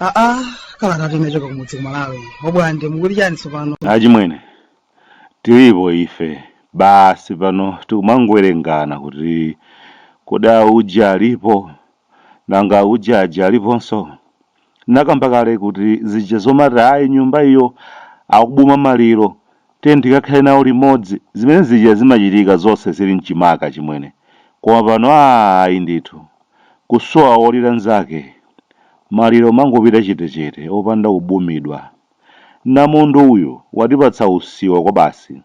aa kalata tinachoka kumudzi kumalawi obwande mukuli chani tsopano achimwene tilipo ife basi pano tikumangowerengana kuti kodi auja alipo nanga auja aja aliponso Ndinakamba kale kuti zija zomati ayi nyumba iyo akubuma maliro tiyeni tikakhale nawo limodzi zimene zija zimachitika zonse zili mchimaka chimwene koma pano aah ayi ndithu kusowa wolira nzake maliro umangopita chetechete opanda kubumidwa. Namondwe uyu watipatsa usiwa kwabasi.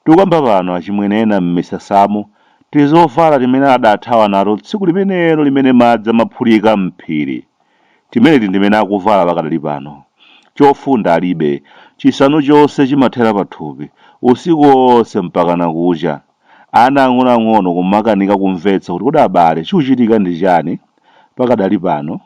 Tikukamba pano achimwene ena m'misasamo tizovala timene adathawa nato tsiku limenelo limene madzi amaphulika m'phiri. Timeneti ndimene akuvala pakadali pano. Chofunda alibe. Chisanu chonse chimathera pathupi, usiku onse mpakana kucha. Ana ang'onoang'ono kumakanika kumvetsa kuti kodi abale chikuchitika ndi chani pakadali pano,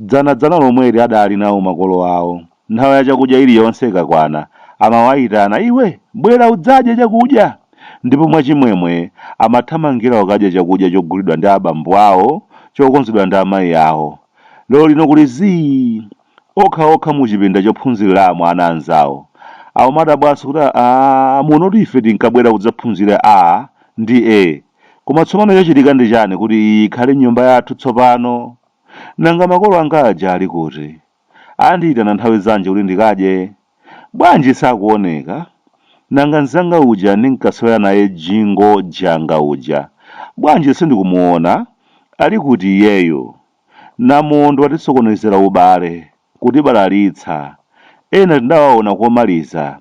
dzanadzana lomweli adali nawo makolo awo nthawi ya chakudya iliyonse ikakwana amawaitana iwe bwera udzadye chakudya ndipo mwachimwemwe amathamangira kukadya chakudya chogulidwa ndi abambo awo chokonzedwa ndi amayi awo lero lino kuti zii okha okha muchipinda chophunziriramo ana anzawo akumadabwanso kuti aah muno ife tinkabwera kudzaphunzira A ndi E koma tsopano chachitika ndi chani kuti iyi ikhale nyumba yathu tsopano? Nanga makolo anga aja ali kuti? Andiitana nthawi zanji kuti ndikadye? Bwanji sakuoneka? Nanga nzanga uja ndinkasewera naye jingo janga uja bwanji sindikumuona? Ali kuti iyeyo? Namondwe watisokonezera ubale, kutibalalitsa. Ena tindawaona komaliza.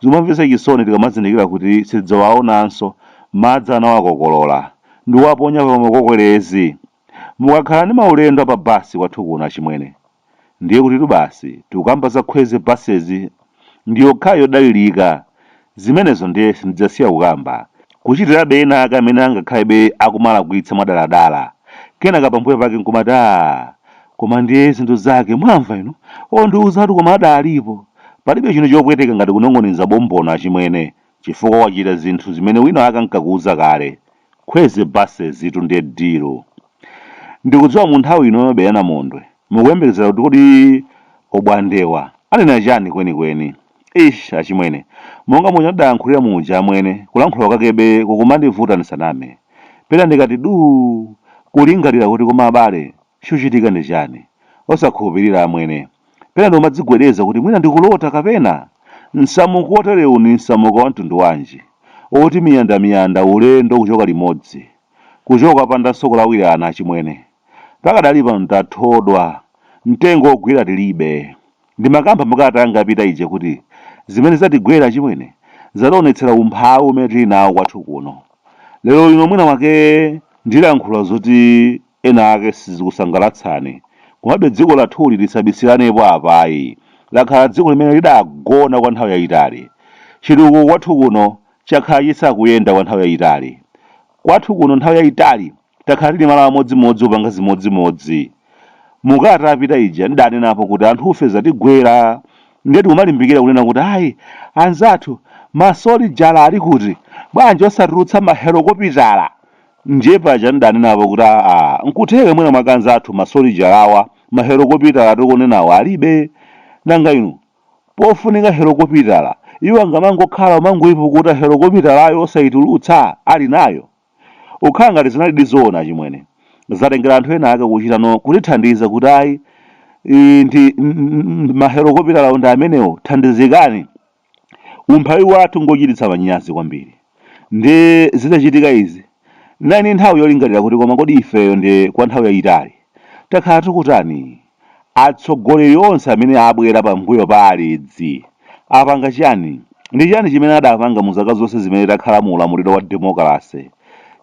Zimamvetsa chisoni tikamazindikira kuti sitidzawaonanso, madzi anawakokolola, ndikuwaponya pa makokelezi. Mukakhala ndi maulendo a pa basi kwathu kuno achimwene, ndiyekutitu basi tikukamba za Kwezy buses ndi yokhayo yodalirika. Zimenezo ndiye sindidzasiya kukamba. Kuchitirabe ena ake amene angakhalebe akumalakwitsa mwadaladala, kenaka pambuyo pake nkumati, Aaa, koma ndiye zinthu zake, mwamva inu? Ondiuzatu koma adaalipo! Palibe chinthu chopweteka ngati kunong'oneza bombono, achimwene. chifukwa wachita zinthu zimene winawake ankakuuza kale Kwezy buses tu ndiye dilu ndikudziwa munthawi ino ya mabeya namondwe mukuyembekezera kuti kodi obwandewa anena chani kwenikweni ish achimwene monga muja ndidayankhulira muja amwene kulankhula kwakebe kukumandivuta ndisaname pena ndikati duu kulingalira kuti koma abale Chikuchitika ndi chani? Osakhulupirira amwene. Pena ndikumadzigwedeza kuti mwina ndikulota kapena? Msamuko woterewu ndi msamuko wa mtundu wanji? Woti miyandamiyanda ulendo kuchoka limodzi. Kuchoka opandanso kulawirana achimwene. Pakadali pano tathodwa. Mtengo wogwira tilibe. Ndimakamba mu kalata yanga yapita ije kuti zimene zatigwera achimwene zationetsera umphawi umene tili nawo kwathu kuno. Lero lino mwina mwake ndilankhula zoti. Ena ake sizikusangalatsani. Komabe dziko lathuli tisabisiranepo apa ayi. Lakhala dziko limene lidagona kwa nthawi yayitali. Chitukuko kwathu kuno chakhala chisakuyenda kwa nthawi yayitali. Kwathu kuno nthawi yayitali takhala tili malo amodzimodzi kupanga zimodzimodzi. Mu kalata yapita ija ndidanenapo kuti anthufe zatigwera nde tikumalimbikira kunena kuti ayi anzathu masolijala ali kuti bwanji osatulutsa mahelokopitala? Ndye paja ndidanenapo kuti aa nkutheka mwina mwake anzathu masolijalawa mahelokopitala tikunenawa alibe. Nanga inu pofunika helokopitala iwo angamangokhala kumangoipukuta helokopitalayo osaitulutsa ali nayo? Ukhala ngati zinalidi zoona achimwene. Zatengera anthu ena ake kuchita no kutithandiza kuti ayi ii ndi mahelokopitalawo ndi amenewo thandizikani. Umphawi wathu ngochititsa manyazi kwambiri. Ndi zitachitika izi, ndinali ndi nthawi yolingalira kuti koma kodi ifeyo ndi kwa nthawi yayitali takhala tikutani? Atsogoleri onse amene abwera pambuyo pa Alidzi apanga chani? Ndi chani chimene adapanga mu zaka zonse zimene takhala mu ulamuliro wa demokalase?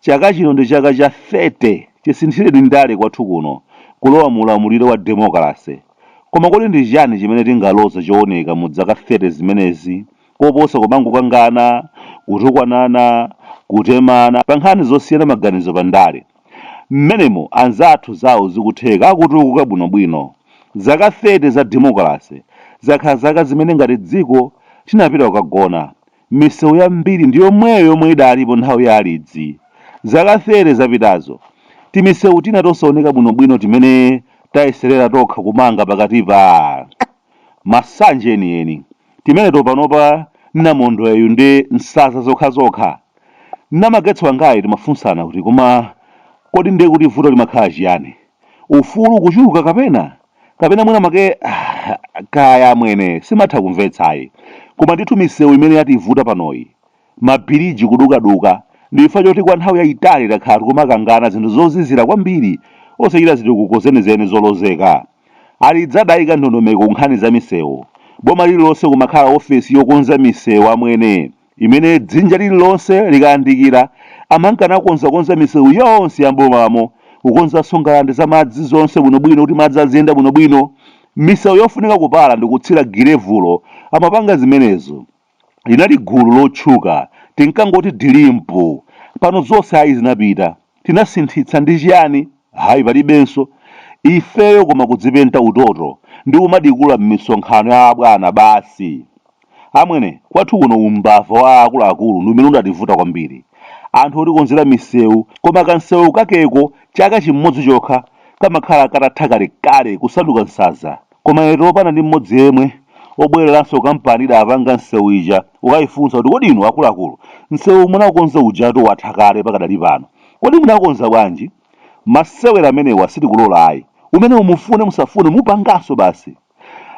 Chaka chino ndi chaka cha 30 chisinthireni ndale kwathu kuno kulowa mu ulamuliro wa demokalase. Koma kodi ndi chiyani chimene tingaloze chooneka mu zaka 30 zimenezi koposa kumangokangana, kutukwanana, kutemana pa nkhani zosiyana maganizo pa ndale? M'menemo anzathu zawo zikutheka akutukuka bwinobwino. Zaka 30 za demokalase zakhala zaka zimene ngati dziko tinapita kukagona. Misewu yambiri ndi yomweyo yomwe idalipo nthawi ya Alidzi. Zaka 30 zapitazo, timisewu tina tosaoneka bwinobwino timene tayeserera tokha kumanga pakatipa, masanje enieni. Timeneto panopa namondweyu ndi nsanza zokhazokha. Na Mangwetso wangayi timafunsana kuti koma kodi nde kuti vuto limakhala chiyani? Ufulu kuchuluka kapena? kapena mwina mwake ah, kaya amwene simatha kumvetsayi koma ndithu misewu imene yativuta panoyi mabiriji kudukaduka ndi chifukwa choti kwa nthawi yayitali takhala tikumakangana zinthu zozizira kwambiri osachita zitukuko zenizeni zolozeka Alidzi adayika ndondomeko ku nkhani za misewu boma lililonse kumakhala ofesi yokonza misewu amwene imene dzinja lililonse likayandikira amankanakonzakonza misewu yonse ya m'bomamo kukonzanso ngalande za madzi zonse bwinobwino kuti madzi aziyenda bwinobwino misewu yofunika kupala ndi kutsira girevulo amapanga zimenezo linali gulu lotchuka tinkangoti dilimpu pano zonse ayi zinapita tinasinthitsa ndi chiyani hayi palibenso ifeyo koma kudzipenta utoto ndi kumadikula m'misonkhano ya abwana basi amwene kwathu kuno umbava wa akuluakulu ndi umene udativuta kwambiri anthu otikonzera misewu koma kansewu kakeko chaka chimodzi chokha kamakhala katatha kalekale kusanduka nsaza Koma etu opanda ndi mmodzi yemwe. Obwereranso kampani idapanga msewu ija kukaifunsa kuti kodi inu akuluakulu msewu munaukonza ujatu watha kale pakadali pano. Kodi mudakonza bwanji? Masewera amenewa sitikulola ayi. Umenewo mufune musafune mupanganso basi.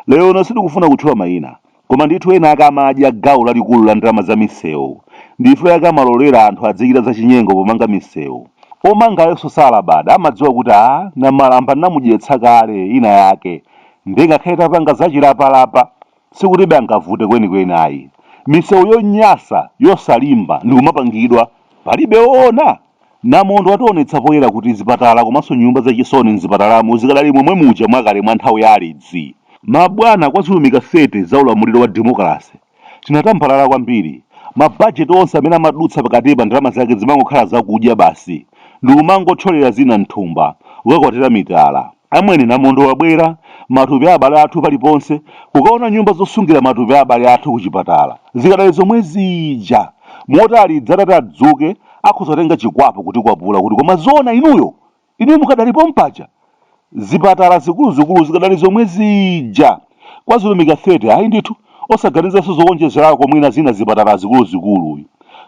Lerono sitikufuna kutchula maina. Koma ndithu ena ake amadya gawo lalikulu la ndalama za misewu. Ndichifukwa chake amalolera anthu adzichita zachinyengo pomanga misewu. Omangawonso salabada amadziwa kuti a Namalamba tinamudyetsa kale ina yake nde ngakhale tapanga zachilapalapa sikutibe angavute kwenikweni ayi. Misewu yonyasa, yosalimba ndikumapangidwa. Palibe oona? Namondwe wationetsa poyera kuti zipatala komanso nyumba za chisoni mzipatalamo zikadali momwe muja mwakale mwa nthawi ya Alidzi. Mabwana kwa zilumika 30 za ulamuliro wa demokalase tinatambalala kwambiri, ma budget onse amene amadutsa pakatipa ndalama zake zimangokhala zakudya basi ndikumangotcholera zina mthumba kukakwatira mitala. Amwene Namondwe wabwera, matupi a abale athu paliponse, kukaona nyumba zosungira matupi a abale athu kuchipatala. Zikadali zomwe zija. Moti Alidzi atati adzuke, akhoza kutenga chikwapu kutikwapula kuti koma zoona inuyo? Inuyo mukadali pompaja? Zipatala zikuluzikulu zikadali zomwe zija. Kwa zilumika 30 ayi ndithu. Osaganizanso zowonjezerako mwina zina zipatala zikuluzikulu.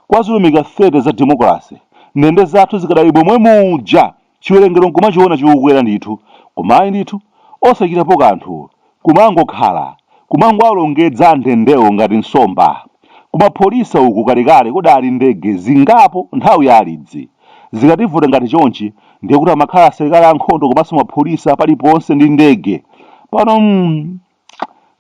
Kwa zilumika 30 za demokalase, ndende zathu zikadali momwe muja! chiwerengero nkumachiona chikukwera ndithu koma ayi ndithu osachitapo kanthu kumangokhala kumangowalongedza andendewo ngati nsomba kumapholisa uku kalekale kudali ndege zingapo nthawi ya alidzi zikativuta ngati chonchi ndiye kuti amakhala asilikali ankhondo komanso mapholisa paliponse ndi ndege pano mm,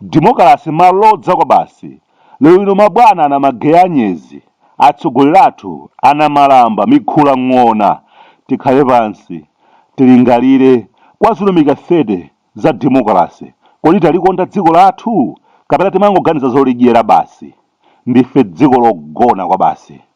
Demokalase malodza kwabasi lero lino mabwana anamageya anyezi atsogoleri athu anamalamba mikhula ng'ona tikhale pansi tilingalire kwa zilumika 30 za demokalase kodi talikonda dziko lathu kapena timangoganiza zolidyera basi ndife dziko logona kwabasi.